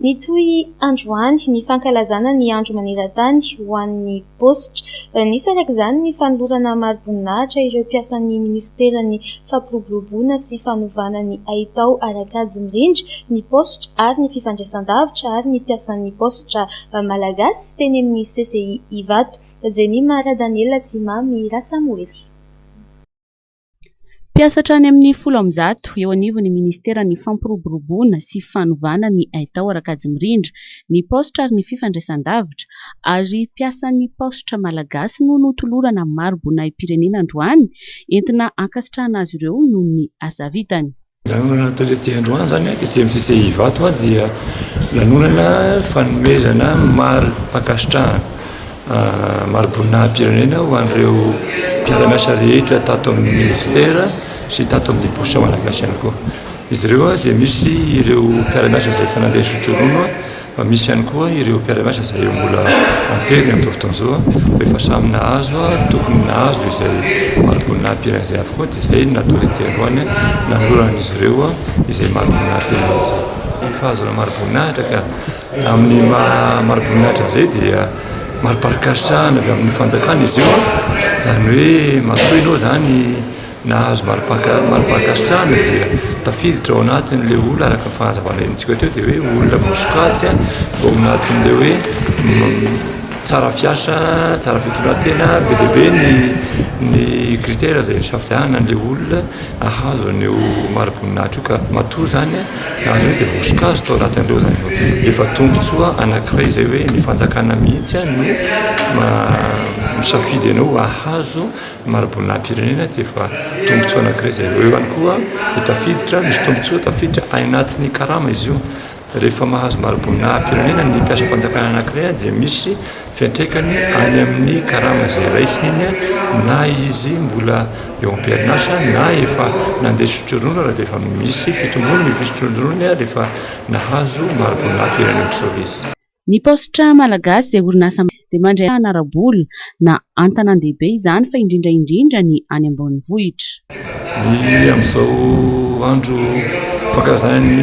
Nitohy androany ny fankalazana ny andro maneran-tany ho an'ny paositra. Nisy araka izany ny fanolorana mari-boninahitra ireo mpiasan'ny minisiteran'ny fampiroboroboana sy fanovana ny haitao ara-kajy mirindra ny paositra ary ny fifandraisandavitra ary ny mpiasan'ny paositra malagasy teny amin'ny CCI Ivato, Jemima Radaniela sy Mamy Rasamoely. Mpiasa hatrany amin'ny folo amby zato eo anivon'ny minisiteran'ny Fampiroboroboana sy fanovana ny haitao Rakajy Mirindra ny paositra ary ny fifandraisandavitra ary mpiasan'ny paositra malagasy no notolorana mari-boninahim-pirenena androany entina hankasitrahana azy ireo noho ny asa vitany. Lanonana natao tetsy androany izany, tetsy amin'ny CCI Ivato dia lanonana fanomezana mari-pankasitrahana, mari-boninahim-pirenena ho an'ireo mpiara-miasa rehetra tato amin'ny Minisitera sy tato amin'ny Bosy Malagasy ihany koa. Izy ireo dia misy ireo mpiara-miasa izay efa nandeha zotroroana. Fa misy ihany koa ireo mpiara-miasa izay mbola amperiny amin'izao fotoana izao fa efa samy nahazo tokony nahazo izay mariboninah amperany izay avokoa dia izay no natao tety androany nanolorana an'izy ireo izay mariboninah amperiny izay. Ny fahazoana mariboninahitra ka amin'ny maha mariboninahitra an'izay dia mariparin-kasitrahana avy amin'ny fanjakana izy io izany hoe matoa ianao izany Nahazo mari-pankasitrahana dia tafiditra ao anatin'ilay olona araka ny fanazavana entintsika teo dia hoe olona vao sokajy vao ao anatin'ilay hoe tsara fiasa, tsara fitondran-tena, be dia be ny ny critère izay isafidianana an'ilay olona hahazo an'io mari-boninahitra io ka matoa izany nahazo an'io dia vao sokajy tao anatin'ireo izany vao. Efa tombontsoa anankiray izay hoe ny fanjakana mihitsy no misafidy anao hahazo Mari-boninahim-pirenena tsy efa tombotsoa anankiray izay eo ihany koa ny tafiditra, misy tombotsoa tafiditra any anatin'ny karama izy io. Rehefa mahazo mari-boninahim-pirenena ny mpiasam-panjakana anankiray dia misy fiantraikany any amin'ny karama izay raisiny iny na izy mbola eo am-perinasa na efa nandeha sotroronona raha dia efa misy fitomboana ny sotroronony rehefa nahazo mari-boninahim-pirenena soa izy. Ny paositra malagasy izay orinasa malagasy dia mandray vahana ara-bola na an-tanàn-dehibe izany fa indrindra indrindra ny any ambanivohitra. Ny amin'izao andro fankalazana ny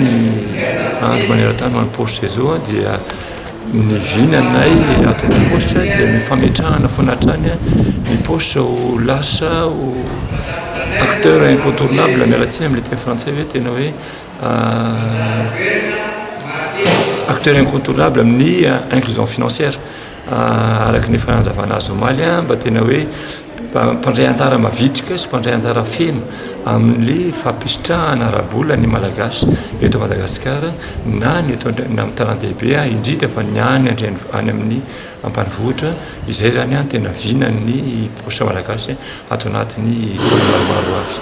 andro maneran-tany ho an'ny paositra izao dia ny vinanay ato am-paositra dia ny fametrahana foana hatrany ny paositra ho lasa ho acteur incontournable, miala tsiny amin'ny teny frantsay hoe tena hoe. Acteur incontournable amin'ny inclusion financière araka ny efa nanazavana azy omaly mba tena hoe mpandray anjara mavitrika sy mpandray anjara feno amin'ny fampisitrahana ara-bola ny Malagasy eto Madagasikara na ny eto na amin'ny tanàn-dehibe indrindra fa ny any an-dreni- any amin'ny ambanivohitra izay zany an tena vinan'ny paositra Malagasy ato anatin'ny taona maromaro ho avy.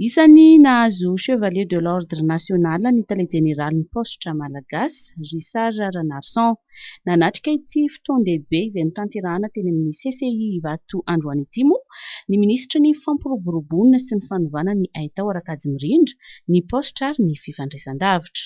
Isan'ny nahazo Chevalier de l'Ordre national ny Tale Jeneralin'ny Paositra Malagasy, Richard Ranarison. Nanatrika ity fotoan-dehibe izay notanterahana teny amin'ny CCI Ivato androany ity moa ny Minisitry ny Fampiroboroboana sy ny Fanovana ny Haitao Rakajimirindra, ny Paositra ary ny Fifandraisandavitra.